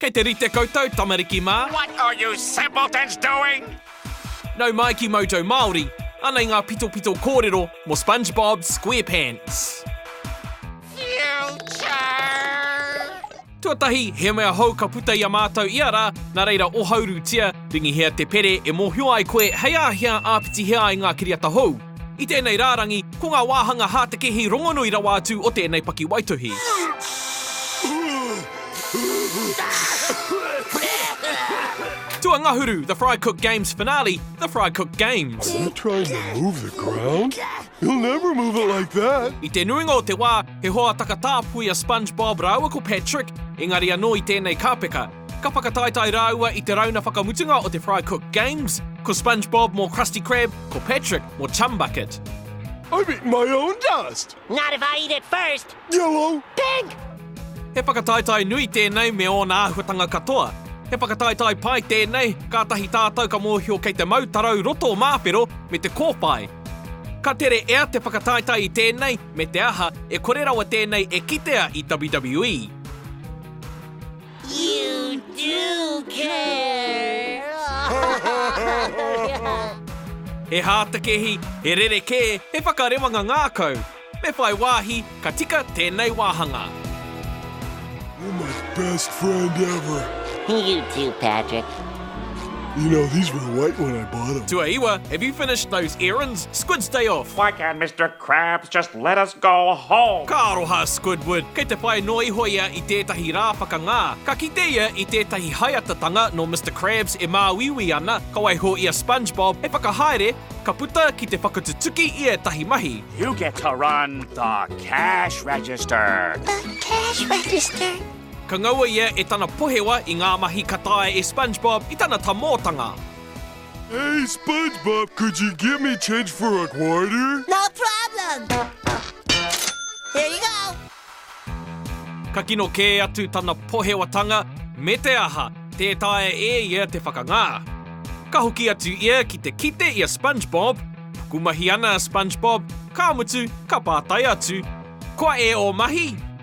Kei te rite koutou tamariki mā. What are you simpletons doing? Nau mai ki Mojo Māori, anei ngā pitopito kōrero mō Spongebob Squarepants. Future! Tuatahi, he mea hou ka puta i a mātou ia rā, nā reira ohaurutia, ringihia te pere e mōhio ai koe hei āhea āpitihia ai ngā kiriata hou. I tēnei rārangi, ko ngā wāhanga hātekehi rongonui rawa atu o tēnei pakiwaituhi. Tua ngahuru, The Fry Cook Games Finale, The Fry Cook Games. I te nuinga o te wā, he hoa takatāpui a SpongeBob rāua ko Patrick, engari anō i tēnei kāpeka, Ka whakataetae rāua i te rauna whakamutunga o te Fry Cook Games, ko Spongebob mō Krusty Krab, ko Patrick mō Chum Bucket. I've eaten my own dust! Not if I eat it first! Yellow! Pink! He whakataetae nui tēnei me ōna āhuatanga katoa. He whakataetae pai tēnei, kātahi tātou ka mōhio kei te mau tarau roto māwhero me te kōwhai. Ka tere ea te whakataetae i tēnei, me te aha, e kore rawa tēnei e kitea i WWE. He hātekehi, he rerekē, he whakarewanga ngākau. Me whai wāhi, ka tika tēnei wāhanga. You're my best friend ever. You too, Patrick. You know, these were white when I bought them. Tuaiwa, have you finished those errands? Squid's day off. Why can't Mr. Crabs just let us go home! Ka aroha a Squidward, kei te whai noa iho ia i tētahi rā whakangā. Ka kite ia i tētahi haeatatanga nō Mister Krabs e māuiui ana, ka waiho i a Spongebob hei whakahaere, ka puta ki te whakatutuki i ētahi mahi. You get to run the cash register! The cash register! Ka ngaua ia e tana pohewa i ngā mahi ka taea e Spongebob i tana tamōtanga. Hey Spongebob, could you give me change for a quarter? No problem! Here you go! Ka kino kē atu tana pohewatanga me te aha, tē taea e ia te whakangā. Ka hoki atu ia ki te kite i a Spongebob. Pukumahi ana a Spongebob, ka mutu, ka pātai atu, Koa e ō mahi?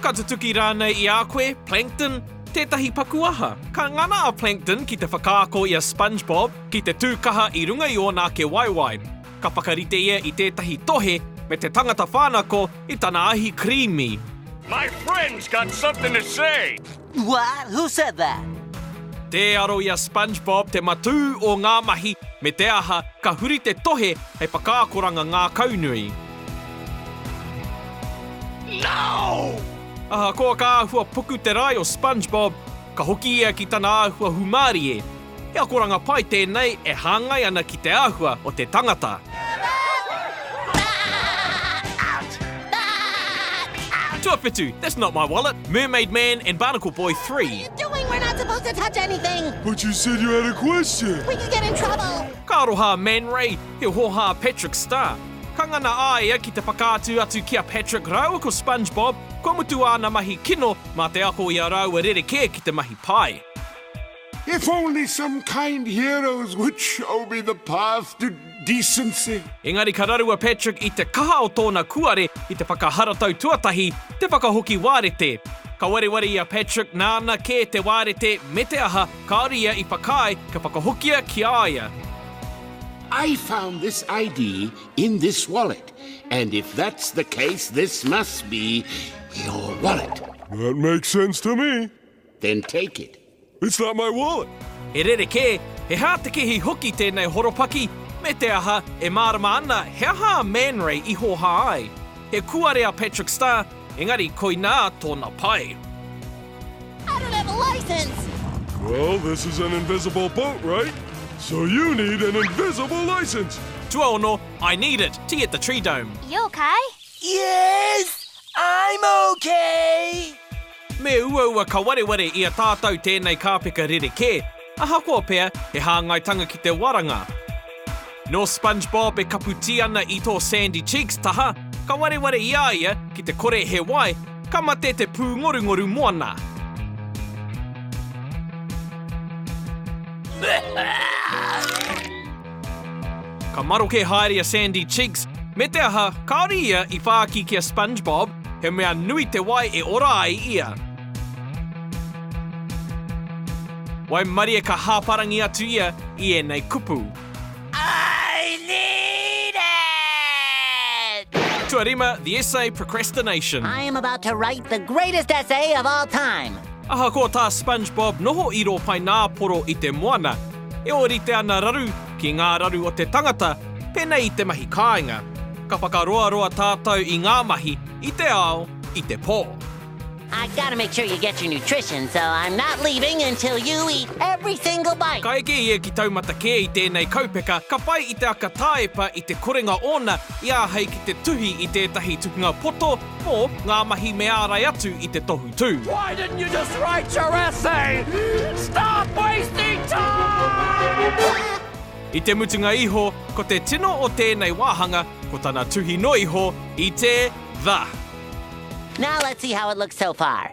Ka tutuki rānei i a koe, Plankton? Tētahi paku aha? Ka ngana a Plankton ki te whakaako i a Spongebob ki te tū kaha i runga i ōna ake waewae. Ka whakarite ia i tētahi tohe me te tangata whānako i tana ahi creamy. My friend's got something to say! What? Who said that? Tē aro i a Spongebob te matū o ngā mahi, me te aha, ka huri te tohe hei whakaakoranga ngākaunui. No! Ahakoa ka āhua puku te rae o Spongebob, ka hoki ia ki tana āhua hūmārie, He akoranga pai tēnei e hāngai ana ki te āhua o te tangata. Tuawhitu, That's not my wallet, Mermaid Man and Barnacle Boy iii. Ka aroha a Man Ray, he hōhā a Patrick Star. Ka ngana a ia ki te whakaatu atu ki a Patrick rāua ko Spongebob, kua mutu āna mahi kino mā te ako i a rāua rerekē ki te mahi pai. If only some kind heroes would show me the path to decency. Engari ka raru a Patrick i te kaha o tōna kuare i te whakaharatau tuatahi, te whakahoki wārete. Ka wareware i a Patrick nāna kē te wārete me te aha, kāore ia i whakaae kia whakahokia ki a ia. I found this ID in this wallet and if that's the case this must be your wallet. That makes sense to me. then take it. It's not my wallet! He rerekē, he hātekehi hoki tēnei horopaki, me te aha, e mārama ana he aha a Man Ray i hōhā ai. He kuare a Patrick Star, engari koinā tōna pae. I don't have a license! Well, this is an invisible boat, right? So you need an invisible license! Tuaono, I need it, tea at the Tree Dome. You okay? Yes! I'm okay! Me uaua ka wareware i a tātou tēnei kāpeka rerekē, ahakoa pea he hāngaitanga ki te waranga. Nō Spongebob e kapu tī ana i tō Sandy Cheeks taha, ka wareware i a ia ki te kore he wai, ka mate te pūngorungoru moana. Ka maroke haere a Sandy Cheeks, me te aha, kāore ia i whāki ki a Spongebob, he mea nui te wai e ora ai ia. Waimarie ka hāparangi atu ia i ēnei kupu. I need it! Tuarima, the essay Procrastination. I am about to write the greatest essay of all time! Ahakoa tā Spongebob noho i rō paināporo i te moana, E ōrite ana raru ki ngā raru o te tangata, pēnei i te mahi kāinga. Ka whakaroaroa tātou i ngā mahi, i te ao, i te pō. I've got to make sure you get your nutrition, so I'm not leaving until you eat every single bite! Ka eke ia ki taumata kē i tēnei kaupeka, ka pai i te aka tāepa i te korenga ōna i āhei ki te tuhi i tētahi tukunga poto, Mō ngā mahi me ārai atu i te tohu tū. Why didn't you just write your essay? Stop wasting time! I te mutunga iho, ko te tino o tēnei wāhanga, ko tana tuhi noa iho i te The. Now let's see how it looks so far.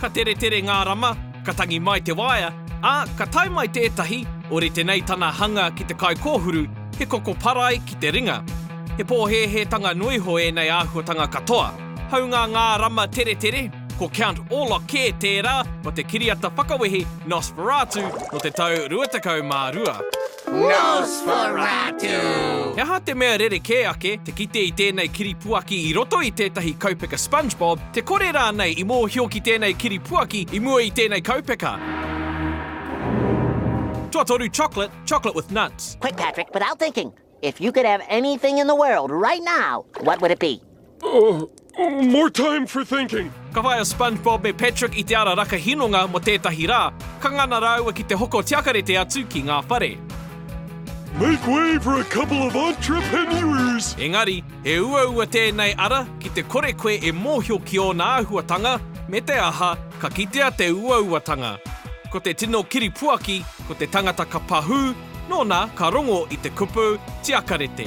Ka teretere ngā rama, ka tangi mai te waea, ā, ka tae mai tētahi, orite nei tana hanga ki te kai kōhuru, he koko parai ki te ringa. He pōhēhētanga noa iho ēnei āhuatanga katoa. Hāunga ngā rama teretere, ko Count Orlok kē tērā o te kiriata whakawehi Nosferatu nō te tau 22. Nosferatu! He aha te mea rerekē ake te kite i tēnei kiripuaki i roto i tētahi kaupeka Spongebob, te kore rānei i mōhio ki tēnei kiripuaki i mua i tēnei kaupeka? Tuatoru chocolate, chocolate with nuts. Quick Patrick, without thinking, if you could have anything in the world right now, what would it be? Oh, more time for thinking! Ka whai a Spongebob me Patrick i te ara raka hinonga mo tētahi rā, ka ngana rāua ki te hoko tiakarete atu ki ngā whare. Make way for a couple of entrepreneurs! Engari, he uaua tēnei ara ki te kore koe e mōhio ki ōna āhuatanga, me te aha, ka kitea te uauatanga. Ko te tino kiripuaki, ko te tangata ka pahū, nōna ka rongo i te kupu tiakarete.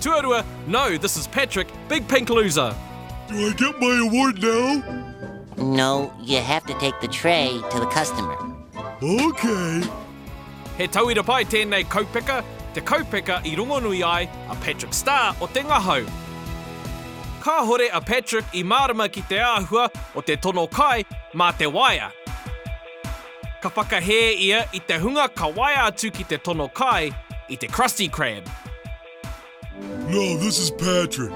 Tuarua, No, this is Patrick, big pink loser. Do I get my award now? No, you have to take the tray to the customer. Okay. He tauira pai tēnei kaupeka, te kaupeka i rongonui ai a Patrick Star o Te Ngahau. Kāhore a Patrick i mārama ki te āhua o te tono kai mā te waea. Ka whakahē ia i te hunga ka waea atu ki te tono kai i te Krusty Krab. Now this is Patrick.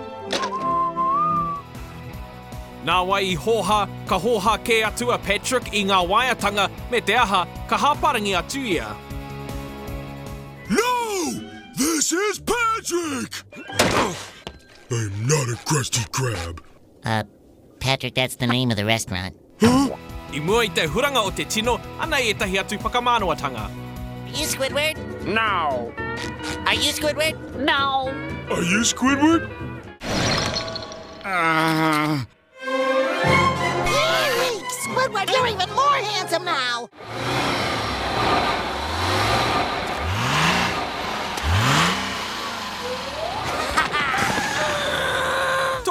Nāwai i hōhā, ka hōhā kē atu a Patrick i ngā waeatanga me te aha, ka hāparangi atu ia. Now this is Patrick. I'm not a Krusty Krab. Patrick that's the name of the restaurant. Huh? I mua i te huranga o te tino, anei ētahi atu whakamānawa-tanga. Are you Squidward? No. Are you Squidward? No. Are you Squidward? Ah. Squidward, you're even more handsome now!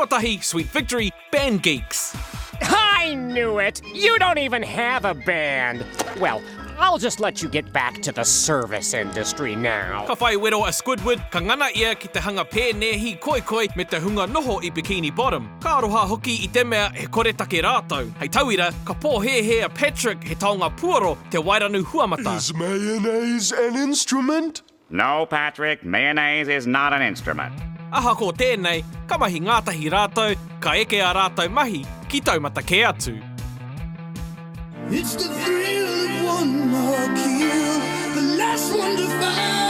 Tuatahi, Sweet Victory, Band Geeks. I knew it! You don't even have a band! Well, I'll just let you get back to the service industry now. Ka whai wero a Squidward, ka ngana ia ki te hanga pēnēhi, koikoi, me te hunga noho i Bikini Bottom. Ka aroha hoki i te mea he koretake rātou. Hei tauira, ka pōhēhē a Patrick, he taonga puoro, te Wairanu Huamata. Is mayonnaise an instrument? No, Patrick, mayonnaise is not an instrument. Ahakoa tēnei, ka mahi ngātahi rātou, ka eke ā rātou mahi ki taumata kē atu. It's the thrill of one more kill, the last one to fall.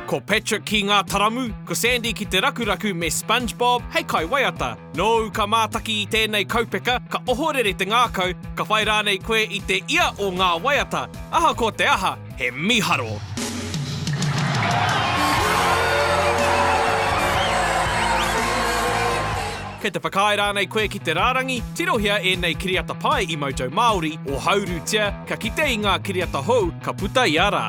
Ko Patrick ki Ngā Taramu, ko Sandy ki Te Rakuraku me Spongebob hei kai waiata. Nōu ka mātaki i tēnei kaupeka, ka ohorere te ngākau, ka whai rānei koe i te ia o ngā waiata. Ahakoa te aha, He miharo. Kei te whakaae rānei koe ki te rārangi, tirohia ēnei kiriata pai i Moto Māori, ohaurutia, ka kite i ngā kiriata hou ka puta ia rā.